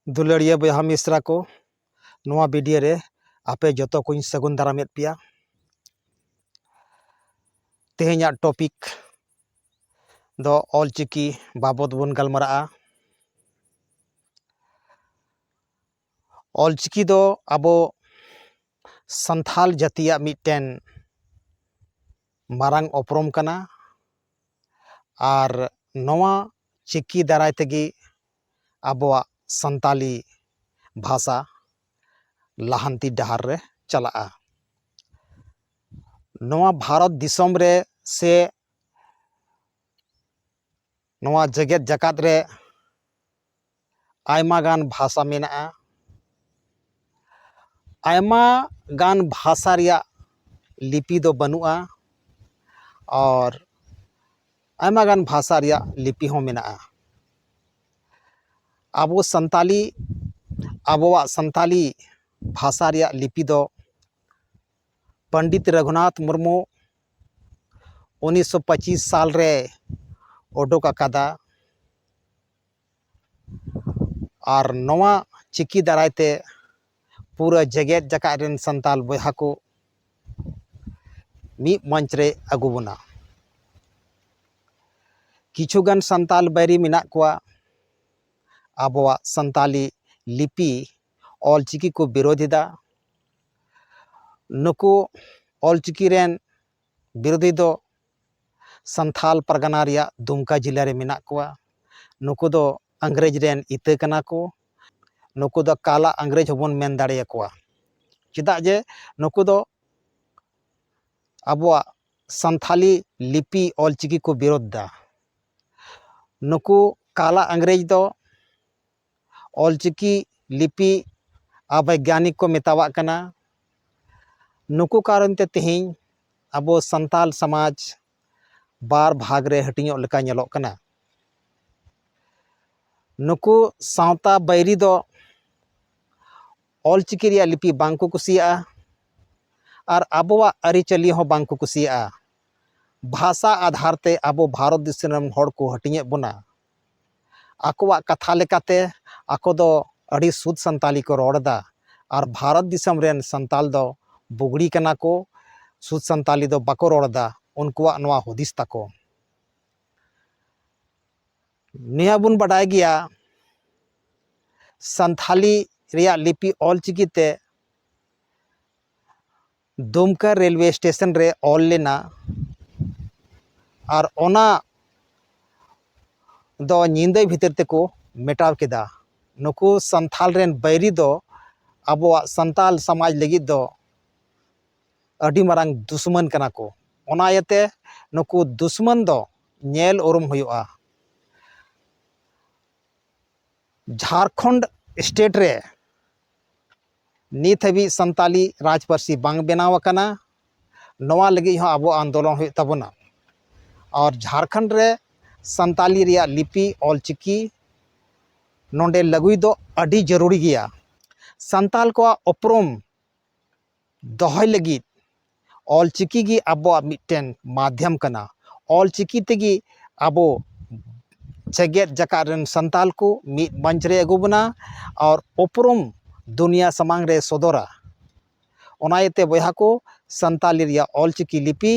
ᱫᱩᱞᱟᱹᱲᱤᱭᱟᱹ ᱵᱚᱭᱦᱟ ᱢᱤᱥᱨᱟ ᱠᱚ ᱱᱚᱣᱟ ᱵᱷᱤᱰᱤᱭᱳ ᱨᱮ ᱟᱯᱮ ᱡᱚᱛᱚ ᱠᱚᱧ ᱥᱟᱹᱜᱩᱱ ᱫᱟᱨᱟᱢᱮᱫ ᱯᱮᱭᱟ ᱛᱮᱦᱮᱧᱟᱜ ᱴᱚᱯᱤᱠ ᱫᱚ ᱚᱞᱪᱤᱠᱤ ᱵᱟᱵᱚᱫ ᱵᱚᱱ ᱜᱟᱞᱢᱟᱨᱟᱜᱼᱟ ᱚᱞᱪᱤᱠᱤ ᱫᱚ ᱟᱵᱚ ᱥᱟᱱᱛᱟᱲ ᱡᱟᱹᱛᱤᱭᱟᱜ ᱢᱤᱫᱴᱮᱱ ᱢᱟᱨᱟᱝ ᱩᱯᱨᱩᱢ ᱠᱟᱱᱟ ᱟᱨ ᱱᱚᱣᱟ ᱪᱤᱠᱤ ᱫᱟᱨᱟᱭ ᱛᱮᱜᱮ ᱟᱵᱚᱣᱟᱜ ᱥᱟᱱᱛᱟᱲᱤ ᱵᱷᱟᱥᱟ ᱞᱟᱦᱟᱱᱛᱤ ᱰᱟᱦᱟᱨ ᱨᱮ ᱪᱟᱞᱟᱜᱼᱟ ᱱᱚᱣᱟ ᱵᱷᱟᱨᱚᱛ ᱫᱤᱥᱚᱢ ᱨᱮ ᱥᱮ ᱱᱚᱣᱟ ᱡᱮᱜᱮᱛ ᱡᱟᱠᱟᱛ ᱨᱮ ᱟᱭᱢᱟ ᱜᱟᱱ ᱵᱷᱟᱥᱟ ᱢᱮᱱᱟᱜᱼᱟ ᱟᱭᱢᱟ ᱜᱟᱱ ᱵᱷᱟᱥᱟ ᱨᱮᱭᱟᱜ ᱞᱤᱯᱤ ᱫᱚ ᱵᱟᱹᱱᱩᱜᱼᱟ ᱟᱨ ᱟᱭᱢᱟ ᱜᱟᱱ ᱵᱷᱟᱥᱟ ᱨᱮᱭᱟᱜ ᱞᱤᱯᱤ ᱦᱚᱸ ᱢᱮᱱᱟᱜᱼᱟ ᱟᱵᱚ ᱥᱟᱱᱛᱟᱞᱤ ᱟᱵᱚᱣᱟᱜ ᱥᱟᱱᱛᱟᱞᱤ ᱵᱷᱟᱥᱟ ᱨᱮᱭᱟᱜ ᱞᱤᱯᱤ ᱫᱚ ᱯᱚᱱᱰᱤᱛ ᱨᱟᱹᱜᱷᱩᱱᱟᱛᱷ ᱢᱩᱨᱢᱩ ᱩᱱᱤᱥᱥᱚ ᱯᱚᱸᱪᱤᱥ ᱥᱟᱞ ᱨᱮ ᱩᱰᱩᱠ ᱟᱠᱟᱫᱟ ᱟᱨ ᱱᱚᱣᱟ ᱪᱤᱠᱤ ᱫᱟᱨᱟᱭ ᱛᱮ ᱯᱩᱨᱟᱹ ᱡᱮᱜᱮᱛ ᱡᱟᱠᱟᱛ ᱨᱮᱱ ᱥᱟᱱᱛᱟᱲ ᱵᱚᱭᱦᱟ ᱠᱚ ᱢᱤᱫ ᱢᱚᱧᱪ ᱨᱮᱭ ᱟᱹᱜᱩ ᱵᱚᱱᱟ ᱠᱤᱪᱷᱩ ᱜᱟᱱ ᱥᱟᱱᱛᱟᱲ ᱵᱟᱹᱭᱨᱤ ᱢᱮᱱᱟᱜ ᱠᱚᱣᱟ ᱟᱵᱚᱣᱟᱜ ᱥᱟᱱᱛᱟᱲᱤ ᱞᱤᱯᱤ ᱚᱞᱪᱤᱠᱤ ᱠᱚ ᱵᱤᱨᱳᱫᱷ ᱮᱫᱟ ᱱᱩᱠᱩ ᱚᱞᱪᱤᱠᱤ ᱨᱮᱱ ᱵᱤᱨᱳᱫᱷᱤ ᱫᱚ ᱥᱟᱱᱛᱷᱟᱞ ᱯᱟᱨᱜᱟᱱᱟ ᱨᱮᱭᱟᱜ ᱫᱩᱢᱠᱟ ᱡᱮᱞᱟ ᱨᱮ ᱢᱮᱱᱟᱜ ᱠᱚᱣᱟ ᱱᱩᱠᱩ ᱫᱚ ᱤᱝᱨᱮᱡᱽ ᱨᱮᱱ ᱤᱛᱟᱹ ᱠᱟᱱᱟ ᱠᱚ ᱱᱩᱠᱩ ᱫᱚ ᱠᱟᱞᱟ ᱤᱝᱨᱮᱡᱽ ᱦᱚᱸᱵᱚᱱ ᱢᱮᱱ ᱫᱟᱲᱮ ᱟᱠᱚᱣᱟ ᱪᱮᱫᱟᱜ ᱡᱮ ᱱᱩᱠᱩ ᱫᱚ ᱟᱵᱚᱣᱟᱜ ᱥᱟᱱᱛᱷᱟᱞᱤ ᱞᱤᱯᱤ ᱚᱞᱪᱤᱠᱤ ᱠᱚ ᱵᱤᱨᱳᱫᱷ ᱮᱫᱟ ᱱᱩᱠᱩ ᱠᱟᱞᱟ ᱤᱝᱨᱮᱡᱽ ᱫᱚ ᱚᱞ ᱪᱤᱠᱤ ᱞᱤᱯᱤ ᱟᱵᱮᱜᱽᱜᱟᱱᱤᱠ ᱠᱚ ᱢᱮᱛᱟᱣᱟᱜ ᱠᱟᱱᱟ ᱱᱩᱠᱩ ᱠᱟᱨᱚᱱ ᱛᱮ ᱛᱮᱦᱮᱧ ᱟᱵᱚ ᱥᱟᱱᱛᱟᱲ ᱥᱚᱢᱟᱡᱽ ᱵᱟᱨ ᱵᱷᱟᱜᱽ ᱨᱮ ᱦᱟᱹᱴᱤᱧᱚᱜ ᱞᱮᱠᱟ ᱧᱮᱞᱚᱜ ᱠᱟᱱᱟ ᱱᱩᱠᱩ ᱥᱟᱶᱛᱟ ᱵᱟᱹᱭᱨᱤ ᱫᱚ ᱚᱞ ᱪᱤᱠᱤ ᱨᱮᱭᱟᱜ ᱞᱤᱯᱤ ᱵᱟᱝ ᱠᱚ ᱠᱩᱥᱤᱭᱟᱜᱼᱟ ᱟᱨ ᱟᱵᱚᱣᱟᱜ ᱟᱹᱨᱤᱪᱟᱹᱞᱤ ᱦᱚᱸ ᱵᱟᱝ ᱠᱚ ᱠᱩᱥᱤᱭᱟᱜᱼᱟ ᱵᱷᱟᱥᱟ ᱟᱫᱷᱟᱨ ᱛᱮ ᱟᱵᱚ ᱵᱷᱟᱨᱚᱛ ᱫᱤᱥᱚᱢ ᱨᱮᱱ ᱦᱚᱲ ᱠᱚ ᱦᱟᱹᱴᱤᱧᱮᱫ ᱵᱚᱱᱟ ᱟᱠᱚᱣᱟᱜ ᱠᱟᱛᱷᱟ ᱞᱮᱠᱟᱛᱮ ᱟᱠᱚ ᱫᱚ ᱟᱹᱰᱤ ᱥᱩᱫᱽ ᱥᱟᱱᱛᱟᱞᱤ ᱠᱚ ᱨᱚᱲ ᱮᱫᱟ ᱟᱨ ᱵᱷᱟᱨᱚᱛ ᱫᱤᱥᱚᱢ ᱨᱮᱱ ᱥᱟᱱᱛᱟᱞ ᱫᱚ ᱵᱩᱜᱽᱲᱤ ᱠᱟᱱᱟ ᱠᱚ, ᱥᱩᱫᱽ ᱥᱟᱱᱛᱟᱞᱤ ᱫᱚ ᱵᱟᱠᱚ ᱨᱚᱲ ᱮᱫᱟ ᱩᱱᱠᱩᱣᱟᱜ ᱱᱚᱣᱟ ᱦᱩᱫᱤᱥ ᱛᱟᱠᱚ᱾ ᱱᱤᱭᱟᱹ ᱵᱚᱱ ᱵᱟᱰᱟᱭ ᱜᱮᱭᱟ ᱥᱟᱱᱛᱷᱟᱞᱤ ᱨᱮᱭᱟᱜ ᱞᱤᱯᱤ ᱚᱞ ᱪᱤᱠᱤ ᱛᱮ ᱫᱩᱢᱠᱟ ᱨᱮᱞᱣᱮ ᱥᱴᱮᱥᱚᱱ ᱨᱮ ᱚᱞ ᱞᱮᱱᱟ ᱟᱨ ᱚᱱᱟ ᱫᱚ ᱧᱤᱫᱟᱹ ᱵᱷᱤᱛᱤᱨ ᱛᱮᱠᱚ ᱢᱮᱴᱟᱣ ᱠᱮᱫᱟ ᱱᱩᱠᱩ ᱥᱟᱱᱛᱷᱟᱞ ᱨᱮᱱ ᱵᱟᱹᱭᱨᱤ ᱫᱚ ᱟᱵᱚᱣᱟᱜ ᱥᱟᱱᱛᱟᱞ ᱥᱚᱢᱟᱡᱽ ᱞᱟᱹᱜᱤᱫ ᱫᱚ ᱟᱹᱰᱤ ᱢᱟᱨᱟᱝ ᱫᱩᱥᱢᱟᱹᱱ ᱠᱟᱱᱟ ᱠᱚ ᱚᱱᱟ ᱤᱭᱟᱹᱛᱮ ᱱᱩᱠᱩ ᱫᱩᱥᱢᱟᱹᱱ ᱫᱚ ᱧᱮᱞ ᱩᱨᱩᱢ ᱦᱩᱭᱩᱜᱼᱟ ᱡᱷᱟᱲᱠᱷᱚᱸᱰ ᱥᱴᱮᱴ ᱨᱮ ᱱᱤᱛ ᱦᱟᱹᱵᱤᱡ ᱥᱟᱱᱛᱟᱞᱤ ᱨᱟᱡᱽ ᱯᱟᱹᱨᱥᱤ ᱵᱟᱝ ᱵᱮᱱᱟᱣ ᱟᱠᱟᱱᱟ ᱱᱚᱣᱟ ᱞᱟᱹᱜᱤᱫ ᱦᱚᱸ ᱟᱵᱚ ᱟᱱᱫᱳᱞᱚᱱ ᱦᱩᱭᱩᱜ ᱛᱟᱵᱚᱱᱟ ᱟᱨ ᱡᱷᱟᱲᱠᱷᱚᱸᱰ ᱨᱮ ᱥᱟᱱᱛᱟᱞᱤ ᱨᱮᱭᱟᱜ ᱞᱤᱯᱤ ᱚᱞ ᱪᱤᱠᱤ ᱱᱚᱰᱮ ᱞᱟᱹᱜᱩᱭ ᱫᱚ ᱟᱹᱰᱤ ᱡᱟᱹᱨᱩᱲᱤ ᱜᱮᱭᱟ ᱥᱟᱱᱛᱟᱞ ᱠᱚᱣᱟᱜ ᱩᱯᱨᱩᱢ ᱫᱚᱦᱚᱭ ᱞᱟᱹᱜᱤᱫ ᱚᱞ ᱪᱤᱠᱤ ᱜᱮ ᱟᱵᱚᱣᱟᱜ ᱢᱤᱫᱴᱮᱱ ᱢᱟᱫᱽᱫᱷᱚᱢ ᱠᱟᱱᱟ ᱚᱞ ᱪᱤᱠᱤ ᱛᱮᱜᱮ ᱟᱵᱚ ᱡᱮᱜᱮᱛ ᱡᱟᱠᱟᱛ ᱨᱮᱱ ᱥᱟᱱᱛᱟᱲ ᱠᱚ ᱢᱤᱫ ᱢᱚᱧᱪ ᱨᱮ ᱟᱹᱜᱩ ᱵᱚᱱᱟ ᱟᱨ ᱩᱯᱨᱩᱢ ᱫᱩᱱᱤᱭᱟᱹ ᱥᱟᱢᱟᱝ ᱨᱮ ᱥᱚᱫᱚᱨᱟ ᱚᱱᱟ ᱤᱭᱟᱹᱛᱮ ᱵᱚᱭᱦᱟ ᱠᱚ ᱥᱟᱱᱛᱟᱲᱤ ᱨᱮᱭᱟᱜ ᱚᱞ ᱪᱤᱠᱤ ᱞᱤᱯᱤ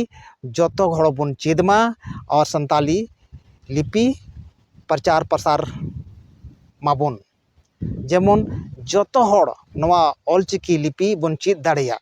ᱡᱚᱛᱚ ᱦᱚᱲ ᱵᱚᱱ ᱪᱮᱫ ᱢᱟ ᱟᱨ ᱥᱟᱱᱛᱟᱲᱤ ᱞᱤᱯᱤ ᱯᱨᱚᱪᱟᱨ ᱯᱨᱚᱥᱟᱨ ᱢᱟᱵᱚᱱ ᱡᱮᱢᱚᱱ ᱡᱚᱛᱚ ᱦᱚᱲ ᱱᱚᱣᱟ ᱚᱞ ᱪᱤᱠᱤ ᱞᱤᱯᱤ ᱵᱚᱱ ᱪᱮᱫ ᱫᱟᱲᱮᱭᱟᱜ